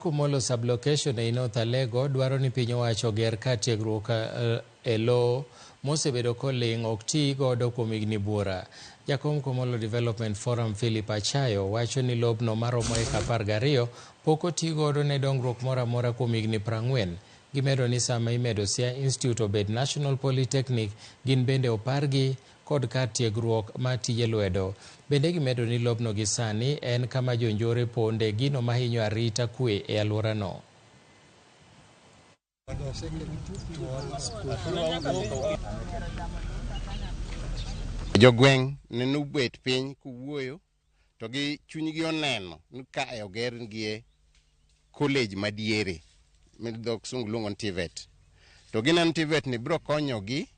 Kumolo Sublocation ei North Alego dwaro ni piny owacho oger kar tiegruok e loo mosebedo koling' ok tii godo kuom higni buora. Jakom Kumolo Development Forum Philip Achayo wacho ni lobno maromo eka apar gariyo pok otii godo ne dongruok moro amora kuom higni prang'wen. Gimedo ni sama imedo Siaya Institute obed National Polytechnic gin bende opargi kod kar tiegruok mar tije lwedo. Bende gimedo ni lobno gi sani en kama jonjore ponde, gino mahinyo arita kwe e alworano. Jogweng' ne nobet piny kowuoyo to gi chunygi oneno ni ka e ogergie college madiere ma dho kisungu luongo ni TVET. To gineno ni TVET ni biro konyogi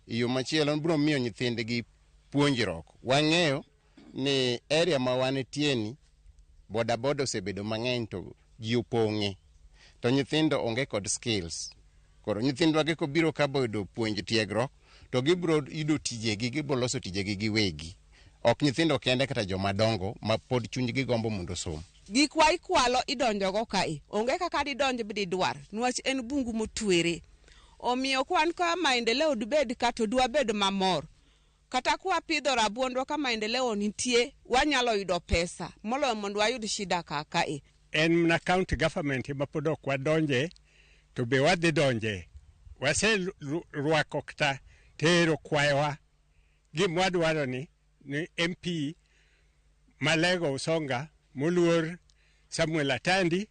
e yo machielo, biro miyo nyithindgi puonjruok. Wang'eyo ni area ma wanitieni bodaboda osebedo mang'eny to ji opong'e to nyithindo onge kod skills. Koro nyithindwagi kobiro ka boyudo puonj tiegruok to gibiro yudo tijegi, gibiro loso tijegi giwegi. Ok nyithindo kende kata joma dongo ma pod chunygi gombo mondo osom. Gik wa ikwalo idonjogo kae. Onge kaka didonj bididwar. Nwach en bungu motwere. Omiyo kwan ka maendeleo dibed ka to dwabed mamor. Kata kwa pidho rabuondwa ka maendeleo nitie, wanyalo yudo pesa. Moloyo mondo wayud shida kaka e. En mna county government ema pod ok wadonje to be wadhi donje. Waserwako kata tero kwayowa gima wadwaro ni ni MP Malego Usonga moluor Samuel Atandi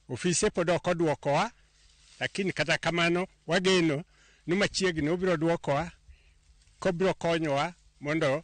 ofise pod ok odwokowa lakini kata kamano wageno ni machiegni obiro dwokowa kobiro konyowa mondo